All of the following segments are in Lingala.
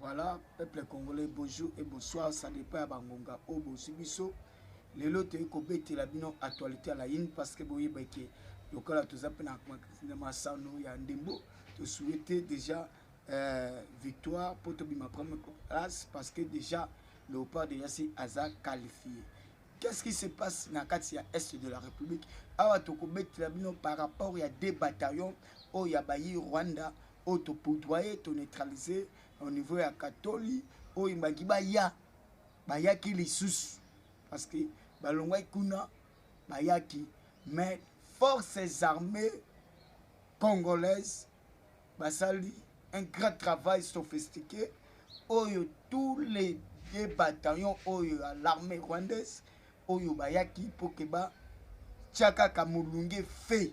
Voilà, peuple congolais, bonjour et bonsoir, ça dépend ya bangonga oyo oh, bozwi biso. Lelo toyei kobetela bino actualité ya layini parce que boyeba ke lokola toza mpe na masano ya ndembo tosuete déjà euh, victoire mpo tobima première place parce que déjà léopard déjà si aza qualifié qu'est-ce qui se passe na kati ya est de la république awa tokobetela bino par rapport ya deux bataillons oyo ya bayi rwanda oyo to poudroyer to neutraliser au niveau ya katoli oyo ebaki baya bayaki lisusu parce que balongwaki kuna bayaki mais forces armées congolaises basali un grand travail sophistiqué oyo tous les deux bataillons oyo ya l'armée rwandaise oyo bayaki mpo ke batya kaka molunge fe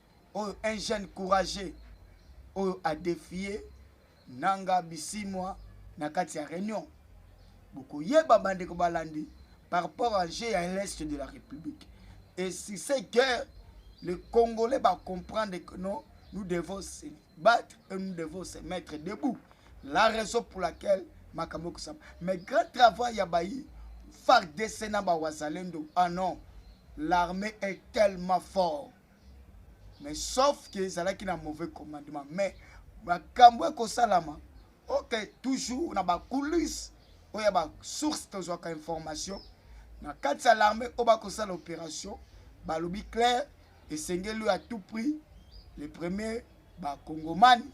oyo un jeune courageux oyo adefie nanga bisimwa na kati ya réunion bokoyeba bandeko balandi par rapport à jeu ya l'est de la république et si c'est guerre les congolais bacomprendre que non nous devons se battre et nous devons se mettre debout la raison pour laquelle makambo ekosama mais grand travail ya bayi fardc na bawazalendo ah non l'armée est tellement fort mais sauf que ezalaki na mauvais commandement mais makambo ekosalama ok toujours na bacoulisse oyo ya basource tozwaka information na kati ya l'armée oyo bakosala opération balobi claire esengeli oyo à tout prix le premier bakongomani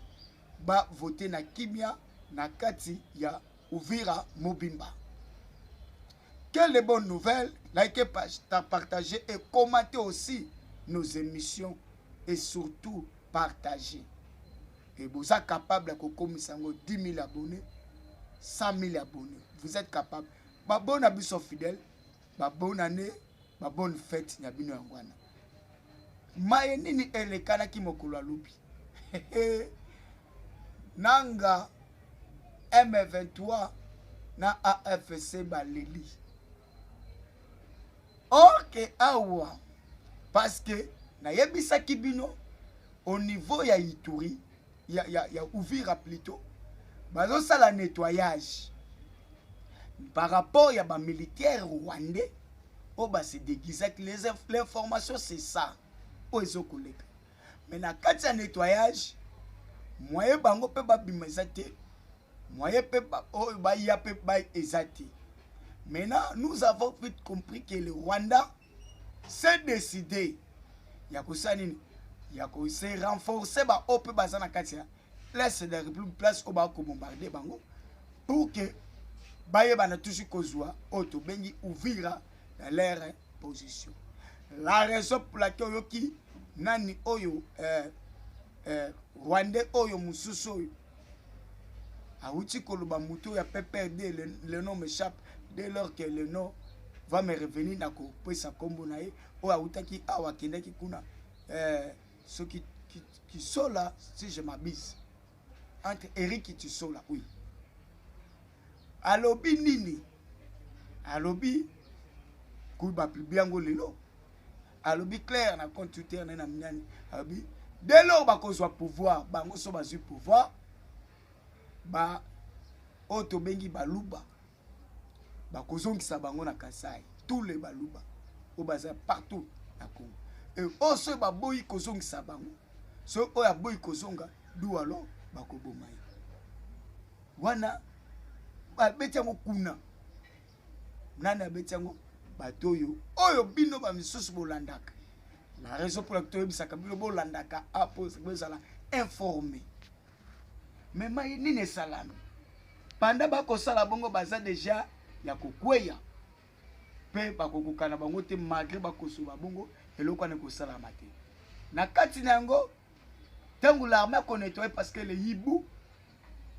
bavote na kimia na kati ya uvira mobimba Quelle bonne nouvelle Likez, partagez et commentez aussi nos émissions et surtout partagez. Et vous êtes capable de kokomisa 10 000 abonnés, 100 000 abonnés. Vous êtes capable. Ba bonne abisso fidèle, ba bonne année, ba bonne fête na bino yangwana. maye nini elekanaki mokolo ya lobi nanga m23 na afc baleli orke awa paske nayebisaki bino au niveau ya ituri ya, ya, ya Uvira plutot bazosala nettoyage par rapport ya bamilitaire rwandais oyo base déguisaki l'information c'est ça oyo ezokoleka mais na kati ya nettoyage moye bango mpe babima eza te moye mpe oyo baya mpe eza te maintenant nous avons vite compris que le rwanda se decide ya kosala nini ya kose renforcer baoyo mpe baza na kati ya place de république place oyo bakobombarde bango pour que bayebana tusi kozwa oyo tobengi uvira na lere position la raison pour laquelle oyoki nani oyo eh, eh, rwandais oyo mosusu oyo awuti koloba moto ya PPRD le, le nom m'échappe dès lors que le nom va me revenir na kopesa nkombo na ye oyo awutaki awa akendaki kuna eh, soki kisola si je m'abise entre Eric Tisola oui alobi nini alobi kuba publie yango lelo alobi claire na compte twitter naye na mignane alobi dès lors bakozwa pouvoir bango so bazwi pouvoir ba oyo tobengi baluba bakozongisa bango na kasai tous les baluba oyo baza partout na congo e oyo soki baboyi kozongisa bango soki oyo aboyi kozonga dualo bakoboma ye wana babeti yango kuna nani abeti yango bato oyo oyo bino bamisusu bolandaka la raison mpo laki toyebisaka bino bolandaka apo ah, bozala informe me mai nini esalami banda bakosala bongo baza deja ya kokweya mpe bakokokana bango te malgre bakosoba bongo eloko wana ekosalama te na kati na yango ntango larme akonetoye parce que le hibu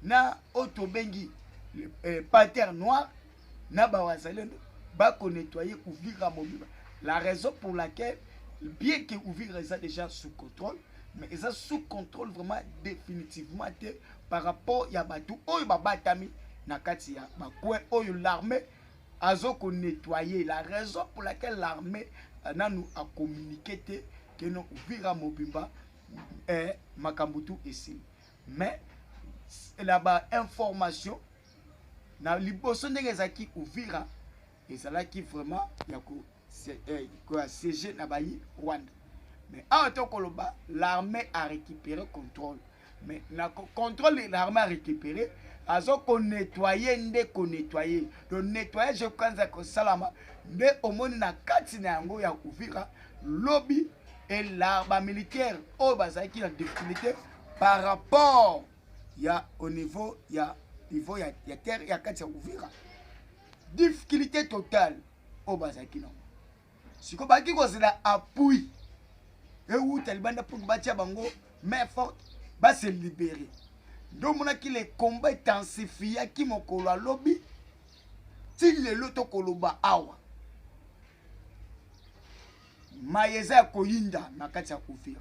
na oyo tobengi eh, pater noir na bawazalendo bakonettoye uvira mobimba la raison pour laquelle bien que uvira eza déjà sous contrôle mais eza sous contrôle vraiment définitivement te par rapport ya bato oyo babatami na kati ya bacoin oyo l'armée azo konettoye la raison pour laquelle l'armée euh, nanu acommunike te keno uvira mobimba eh, makambo tu esili mais na ba information na liboso ndenge ezalaki uvira ezalaki vraiment ya ko eh, ya siege na bayi rwanda mais awa tokoloba l'armée a récupéré contrôle mais na contrôle l'armée a récupéré azo konetwaye nde konetwaye to netwayage ekokanza kosalama nde omoni na kati na yango ya uvira lobi ela bamilitaire oyo bazalaki na difficulté par rapport ya au niveau ya niveau ya, ya terre ya kati ya uvira difficulté totale oyo bazalaki nango sikoyo bazalaki kozela appui ewuta libanda mpo batya bango main forte base libere nde omonaki le combat etensifiaki mokolo alobi ti lelo tokoloba awa maye eza ya koyinda na kati ya uvira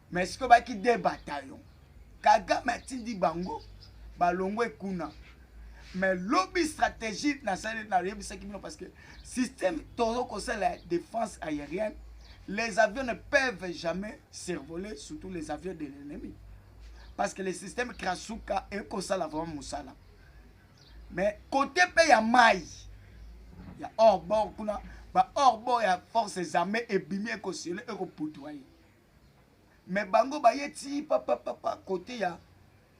mais sikoyo baki de bataillon kagame atindi bango balongwe kuna mais lobi stratégie nasali nayebisaki bino parce que système tozo kosala ya défense aérienne les avions ne peuvent jamais survoler surtout les avions de l'ennemi parce que le système krasuka ekosala vraiment mosala mais côté mpe ya mai ya hors bord kuna ba hors bord ya forces armées ebimi ekosele ekoputua ye mais bango baye ti papapapa kote ya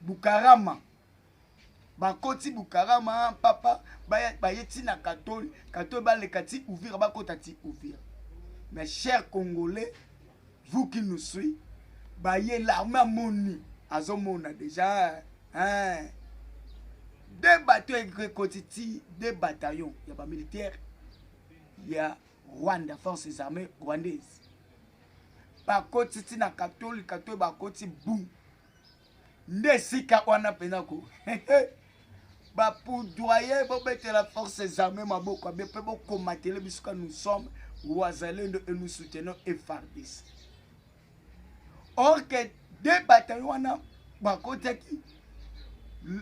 bukarama bakoti bukarama papa baye ti na katoli katoli baleka ti uvira bakota ti uvira mais cher congolais vous qui nous suit baye larme amoni azomona déjà hein. deux bateau ekoti ti deux bataillon ya bamilitaire ya Rwanda, forces armées rwandaises bakoti ti na katolika to bakoti bu nde esika wana mpena ko bapoudoye bobetela forces armées maboko abe mpe bokomatele bisuka nous sommes wazalendo et nous soutenons efardis or que de bataillon wana bakotaki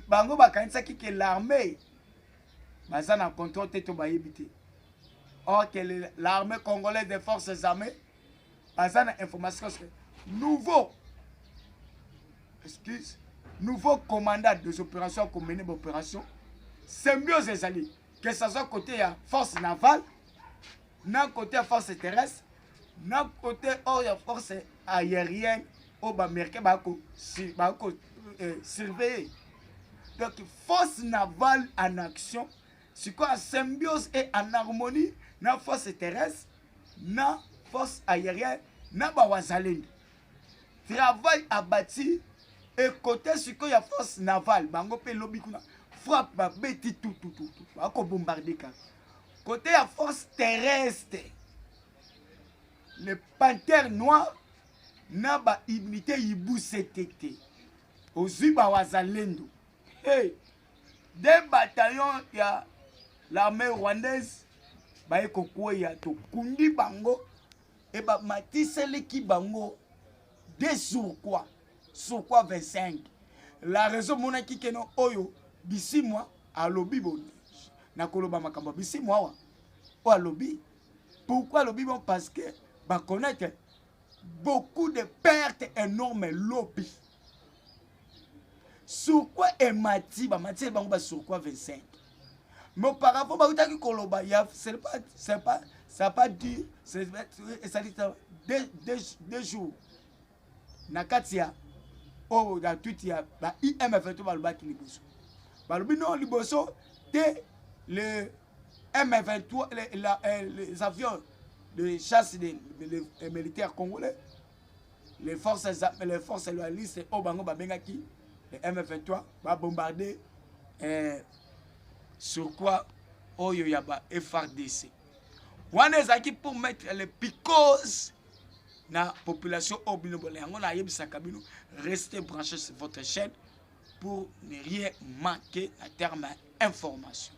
bango bakanisaki ke l'armée baza na contrôle te to bayebi te or que l'armée congolaise des forces armées baza na information que nouveau excuse nouveau commandant des opérations akomene baopération symbiose ezali que ça soit côté ya force navale na côté ya force terrestre na kote oyo ya force aérienne oyo baaméricain bako bako eh, surveiller donc force navale en action sikoyo en symbiose et en harmonie na force terrestre na force aérienne na bawazalendo travail abati ekote sikoyo ya force navale bango mpe lobi kuna frappe babeti tutututu bakobombarde kaka Côté ya force terrestre, le panthère noir na ba immunité ibusetete ozwi ba wazalendo hey, deux bataillons ya l'armée rwandaise baye kokweya tokundi bango ebamatiseleki bango desurkwa sur quoi 25 la raison monaki keno oyo bisimwa alobi boni nakoloba makambo ya bisimwa awa oyo alobi pourquoi alobi bon parce que baconnaître beaucoup de pertes énormes lobi sur quoi emati bamati bango ba sur quoi 25 mais auparavant bautaki koloba ya c'est pas c'est pas ça pas dit c'est ça dit deux, deux, deux jours na kati ya oyo na twiti ya ba imf to balobaki liboso balobi no liboso te le m23 les, la, eh, les avions de chasse des de, de militaires congolais les forces les forces loyalistes oyo bango babengaki le m23 babombarde eh, sur quoi oyo ya ba frdc wana ezalaki pour mettre le picose na population oyo bino bola yango nayebisaka bino reste branché sur votre chaîne pour ne rien manquer na terme ya information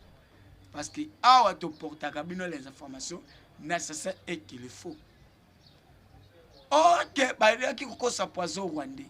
parce que awa toportaka bino les informations nécessaires et qu'il faut orke bayaki kokosa poison rwandais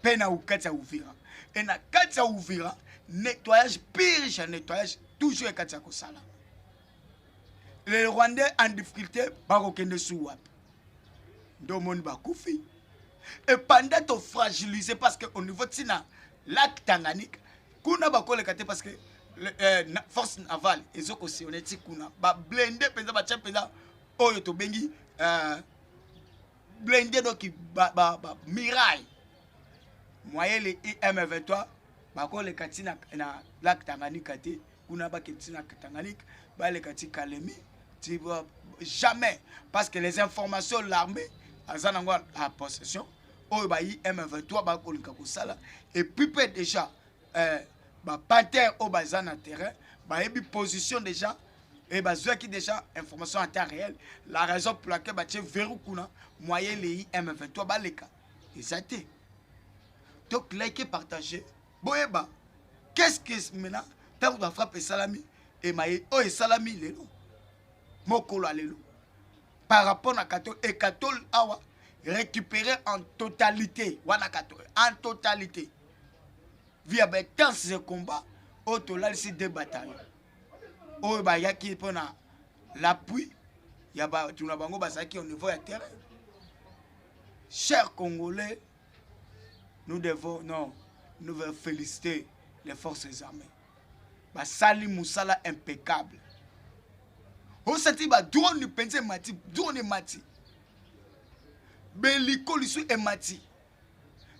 mpe na kati ya uvira e na kati ya uvira nettoyage purge ya nettoyage toujours e kati ya kosala le rwandais en difficulté bakokende su wapi nde omoni bakufi e panda tofragilise parce que au niveau ntina lac tanganyika kuna bakoleka te parce que eh, na, force navale ezo kosione ti kuna bablende mpenza batya mpenza oyo tobengi eh, blende donc ba, ba, ba miraille moyele im23 bakoleka ti na, na lak tanganyika te kuna bakende ti na tanganyika baleka ti kalemi ti jamais parce que les informations l'armée aza nango à possession oyo bayi m23 bakolinga kosala epupe déjà eh, ba panthère oyo baza na terrain bayebi position déjà et eh, bazwaki déjà information en temps réel la raison pour laquelle batie verrou kuna moyen leyi m23 baleka eza te donc like partage boyeba qu'est-ce que maintenant ntango na frappe esalami emaye oyo esalami lelo mokolo ya lelo par rapport na katol ekatol awa récupérer en totalité wana katol en totalité via ba intense de combat oyo tolalisi de bataillon oyo bayaki mpo na l'appui ya bato na bango bazalaki au niveau ya terrain chers congolais nous devons non nous devons féliciter les forces armées basali mosala impeccable osati badrone mpenza emati drone emati beliko lisu emati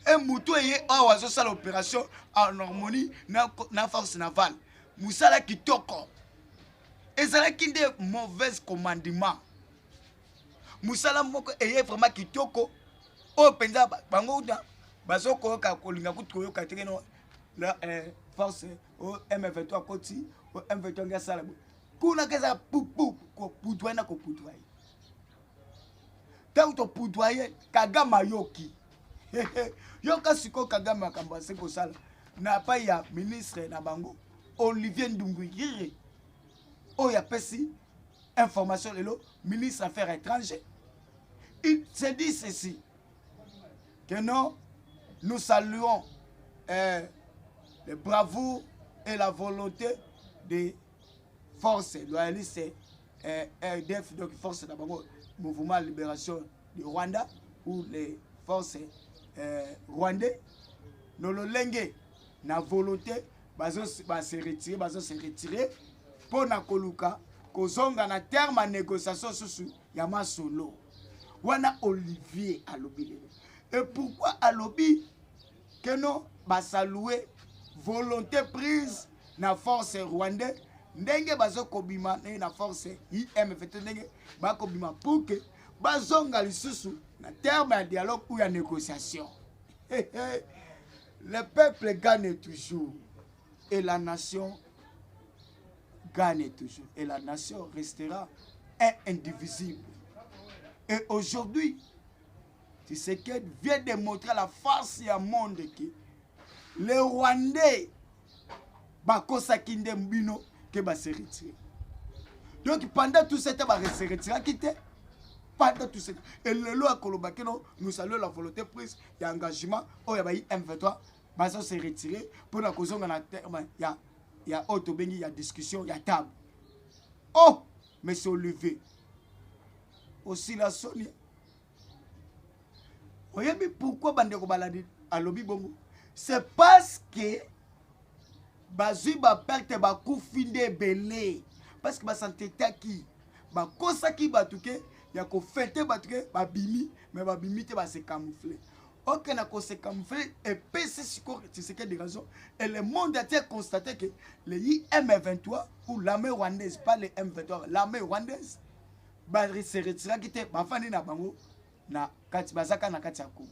e moto eye awa azosala opération en harmonie na, na force navale mosala kitoko ezalaki nde mauvaise commandement mosala moko eye vraiment kitoko oyo oh, mpenza bango uta bazokoyoka kolinga kutu koyoka teke no la eh, force o oh, m23 akoti o oh, m23 nge asala boye kuna keza pupu koputwa na koputwa ye ntango topudwa ye kagame ayoki yoka sikoyo kagame makambo azi kosala na pai ya ministre na bango olivier ndunguyire oyo apesi information lelo ministre affaire étranger il se dit ceci que non nous saluons euh, le bravoure et la volonté des forces loyalistes eh, rdf donc force na bango mouvement libération du rwanda ou les forces eh, rwandais no lolenge na volonté bazo base retire bazo se retire mpo na koluka kozonga na terme ya négociation susu ya masolo wana olivier alobi lelo e pourquoi alobi que non basalue volonté prise na force rwandais ndenge bazokobima ndenge na force imf to ndenge bakobima pour que bazonga lisusu na terme ya dialogue ou ya négociation le peuple gagne toujours et la nation gagne toujours et la nation restera indivisible et aujourd'hui Tshisekedi vient de montrer la face ya monde que les Rwandais bakosaki nde bino ke base retire donc pendant tout ce temps base retiraki te pendant tout ce temps e lelo akoloba kino nous saluons la volonté prise ya engagement oyo ya bayi m23 bazo se retire mpo na kozonga na terme ya ya oyo tobengi ya discussion ya table oh monsieur olivier osila soni oyebi pourquoi bandeko baladi alobi bongo c'est parce que bazwi baperte bakufi nde ebele parce que basantetaki bakosaki bato ke ya kofete bato ke babimi me babimi te base camoufle oke na kose camoufle epesi sikoyo tiseke de raison et le monde atie constate ke le im23 ou l'armée rwandaise pas le m23 l'armée rwandaise baseretiraki te bafandi na bango na kati bazaka na kati ya congo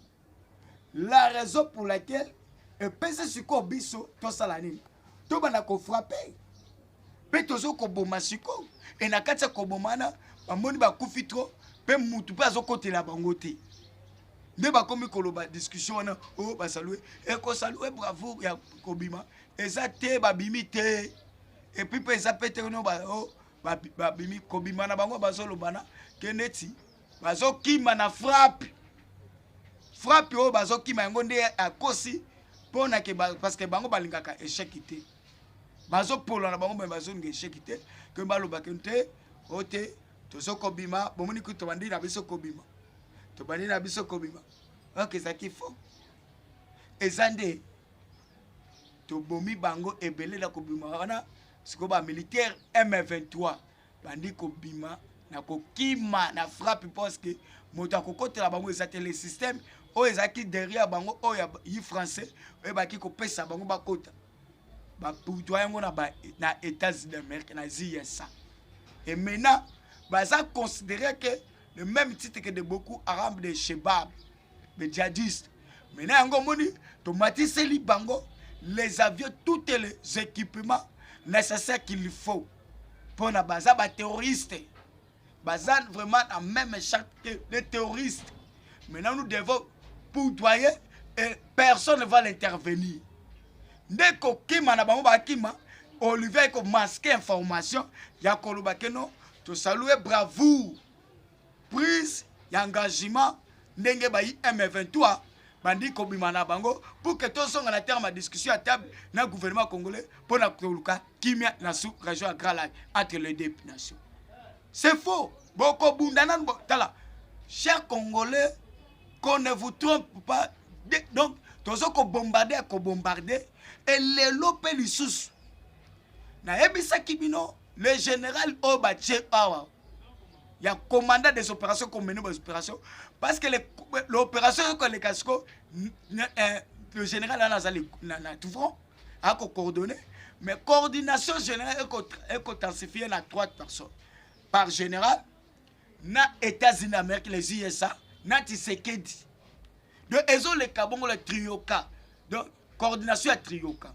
la raison pour laquelle epesi sikoyo biso tosala nini tobanda kofrape mpe tozo koboma sikoyo e na kati ya koboma wana bamoni bakufi tro mpe mutu mpe azokotela bango te nde bakomi koloba discussion wana o oh, basalue ekosalue eh, bravo ya kobima eza te babimi te epuis mpe eza mpe te no ba o oh, babimi kobima na bango bazolobana ke neti bazokima na frappe frappe oyo bazokima yango nde akosi mpo na ke parce que bango balingaka échec te bazopola na bango me bazolinga échec te ke balobaka te o te tozo kobima bomoni kutu tobandi na biso kobima tobandi na biso kobima oyoka ezalaki fo eza nde tobomi bango ebele na kobima wana sikoyo bamilitaire m23 bandi kobima na kokima na frappe parceke moto akokotela bango eza te le système oyo ezalaki derrière bango oyo ya yi français oyo ebaki kopesa bango bakota bapudwa yango na, ba, na états-unis d'amérique na zsa et maintenant baza considéré que le même titre que de beaucoup arabe de shebab les djihadistes mais na yango omoni tomatiseli bango les avions toutes les équipements nécessaires qu'il faut mpo na baza baterroriste baza vraiment na même charte que les terroristes maintenant nous devons poudoyer et personne ne va l'intervenir nde kokima na bango bakima olivier ekomaske information ya koloba keno tosalue bravoure prise ya engagement ndenge bayi M23 bandi kobima na bango pour que tozonga na terme ya discussion ya table na gouvernement congolais mpo na koluka kimia na sous région ya grand lac entre les deux nations c'est faux bokobunda nanu tala cher congolais qu'on ne vous trompe pas de, donc tozo kobombarde ya kobombarde e lelo mpe lisusu nayebisaki bino le général oyo batye awa ya commandant des opérations komene ba opération parce que l'opération yoko aleka siko eh, le général wana aza na touvron ako coordonné mais coordination générale ekotensifier na trois personnes par général na états-unis d'amérique les usa na tisekedi donc ezoleka bongo la trioka donc coordination ya trioka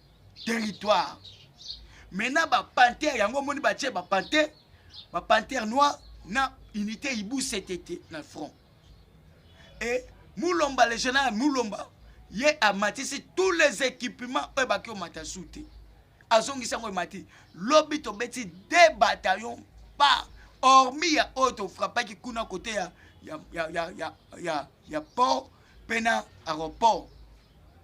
territoire maintenant ba panthère yango omoni batie ba panthère ba panthère noir na unité ibu ctt na front et mulomba le général mulomba ye amatisi tous les équipements oyo baki omata su te azongisi yango emati lobi tobeti de bataillon par hormis ya oyo tofrapaki kuna kote ya, ya, ya, ya, ya, ya, ya port mpe na aéroport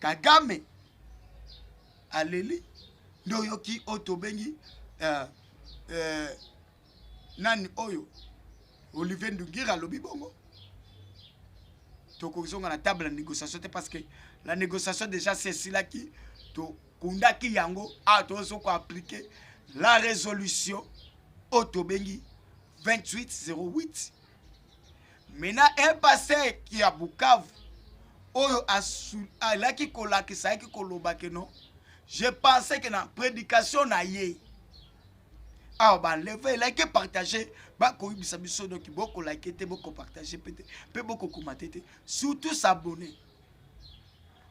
kagame aleli nde oyoki oyo tobengi uh, uh, nani oyo olivier ndungira alobi bongo tokozonga na table ya négociation te parce que la négociation déjà sesilaki tokundaki yango awa ah, tozo koaplike la résolution oyo tobengi 2808 mena epase ya bukavu oyo alaki kolakisa ayaki koloba keno je pense ke na prédication na ye awa baleve elaki epartage bakoyibisa biso doki bokolaki te bokopartage mpe te mpe bokokoma te te surtout s'abonner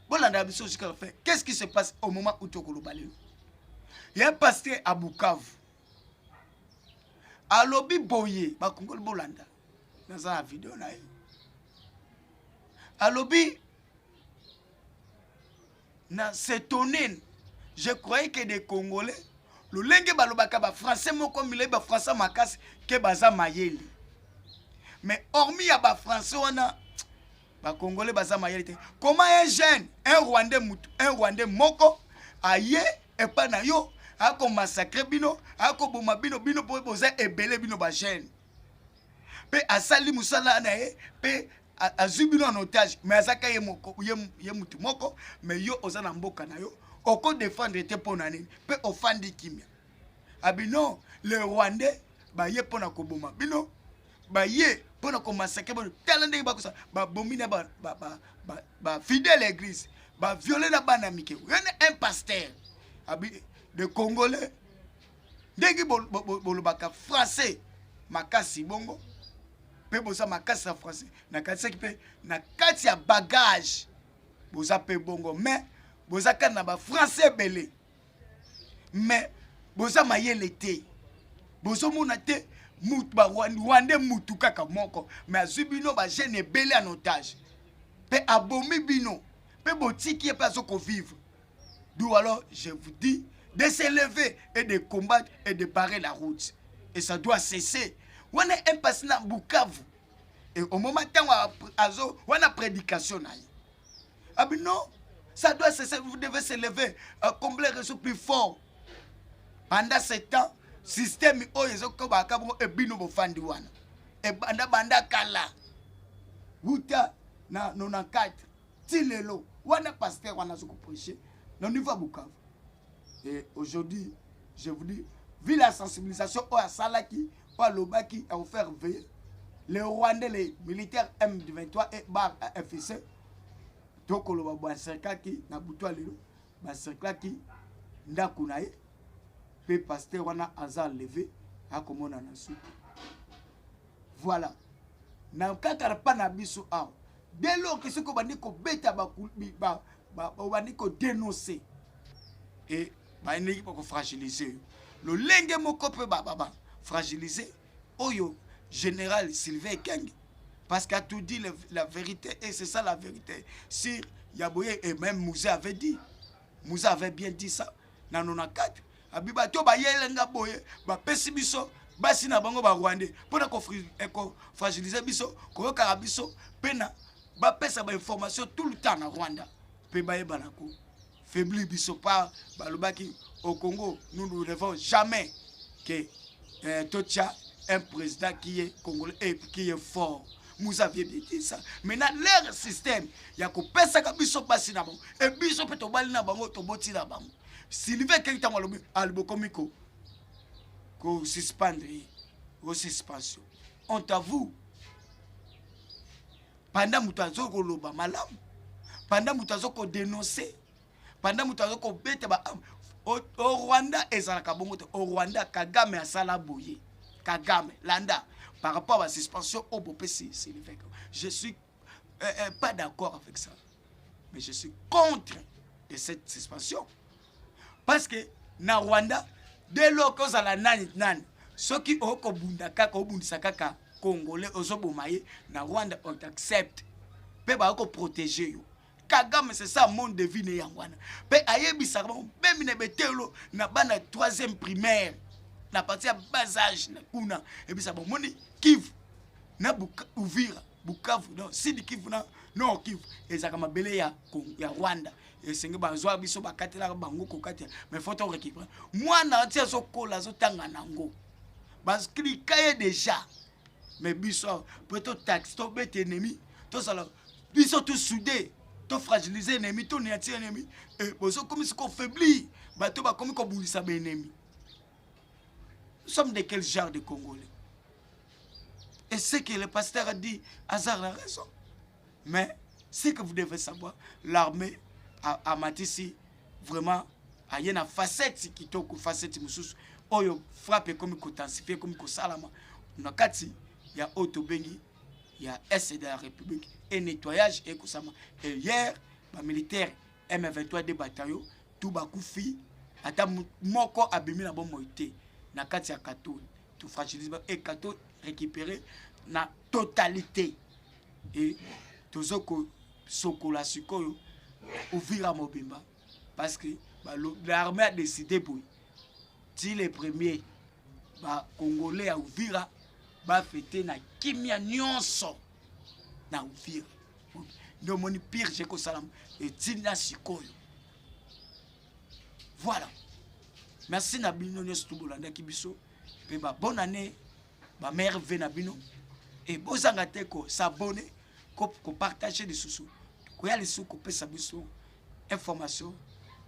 bolandaka biso jusqu'à la fin qu'est ce qui se passe au moment où tokoloba lelo ya paster à bukavu alobi boye bakongoli bolanda naza na video na ye alobi na setonene je croyais que des congolais lolenge balobaka bafrançais moko milai bafrançais makasi ke baza mayele mais hormis ya bafrançais wana ba congolais baza mayele te comment un jeune un rwandais mutu un rwandais moko aye epa na yo ako massacre bino ako boma bino bino po boza ebele bino ba jeune pe asali musala na ye pe azwi bino en otage mais azaka ye moko ye, ye mutu moko mais yo oza na mboka na yo oko défendre te mpo na nini mpe ofandi kimia abino le rwandais baye mpo na koboma bino baye mpo na komasake bano tala ndenge bakosa babomi na bafidèle ya église baviole na bana mike oyone un pasteur de congolais ndenge bolobaka français makasi bongo mpe boza makasi na français nakanisaki mpe na kati ya bagage boza mpe bongo mais boza kati na bafrançais ebele mais boza mayele te bozomona te rwande mutu kaka moko mais azwi bino bajeune ebele en otage mpe abomi bino mpe botiki ye mpe azokovivre d'où alors je vous dis de se lever et de combattre et de barrer la route et ça doit cesser wana impasi na bukavu omoma ntango azo wana prédication na ye Ah mais non, ça doit cesser, vous devez se lever, euh, combler les ressources plus fort. Pendant ce temps, système oyo ezokobaka bongo ebino bofandi wana ebanda banda kala wuta na 94 ti lelo wana pasteur wana azokoprêche na niveau ya bukavu et aujourd'hui je vous dis vu la sensibilisation oyo asalaki po alobaki ya kofaire veye le rwandais le militaire m23 et bar fc tokoloba bacerclaki na butu ya lelo bacerclaki ndako na ye mpe paster wana aza leve akomona na suka voilà na kaka mpa na biso awa dès lors que soki obandi kobeta obandi kodenonce e bayendelaki mpo kofragilize yo lolenge moko mpe bafragilize ba, ba, oyo général sylvain ekenge parce qu'a tout dit le, la vérité et c'est ça la vérité sur yaboye et même mouze avait dit mouze avait bien dit ça na 94 abi bato bayele nga boye bapesi biso basi na bango barwandais mpo na kofragilize eh, biso koyokaka biso mpe na bapesa bainformation tout le temps na rwanda mpe bayebana ko faiblir biso par balobaki au congo nous ne revons jamais que euh, totia un président qui est congolais et qui est fort vous aviez bien dit ça maintenant leur système ya kopesaka biso mpasi na bango e biso mpe tobali na bango toboti na bango sylvain keki ntango alobi alibokomi ko kosuspendre ye o suspension honte à vous panda moto azo koloba malamu panda moto azo kodenonse panda moto azo kobeta ba o, o rwanda ezalaka bongo te o rwanda kagame asala boye kagame landa par rapport à suspension oyo bopesi siliveke je suis euh, euh, pas d'accord avec ça mais je suis contre de cette suspension parce que na rwanda de loke ozala nani nani soki okobunda kaka obundisa kaka congolais ozoboma ye na rwanda on t'accepte mpe bayo koprotege yo kagame c'est ça monde de vie ne yango wana mpe ayebisaka bango meme na betelo na bana ya troisième primaire na parti ya bas age na kuna ebisa bomoni kivu na uvira bukavu non sidi kivu na nord kivu ezalaka mabele ya, ya rwanda esenge bazwa biso bakatelaka bango kokatela mais fo to récupere mwana ati azokola azotanga nango baklika ye déjà mais biso mpo totaxe tobeta ennemi tozala biso tosude tofragilise ennemi toniati ennemi eh, bozokomisi kofaiblir bato bakomi kobundisa baennemi nous sommes de quel genre de congolais Et ce que le pasteur a dit, Hazard a raison. Mais ce que vous devez savoir, l'armée a, a matisi vraiment a une facette qui toque facette mususu oyo frappe comme kotensifier comme kosalama na kati ya oyo tobengi ya est de la république et nettoyage ekosama et hier bamilitaire M23 de batayo tu bakufi ata moko abimi na bomoi te na kati ya katoni tu fragilise ba et kato récupérer na totalité et tozo ko sokola sikoyo uvira mobimba parce que l'armée a décidé boye ti le premier bacongolais ya uvira bafete na kimia nyonso na uvira nde omoni purge ekosalama etinda sikoyo voilà merci na bino nyonso tu bolandaki biso mpe babone année bamere ve na bino e bozanga te kosabone kopartage lisusu koya lisusu kopesa biso information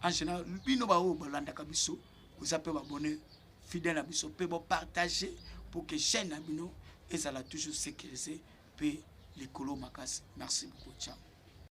en général bino baoyo bolandaka biso boza mpe babone fidèle na biso mpe bopartage pour que chaîne na bino ezala toujours sécurisé mpe likolo makasi merci beaucoup ciao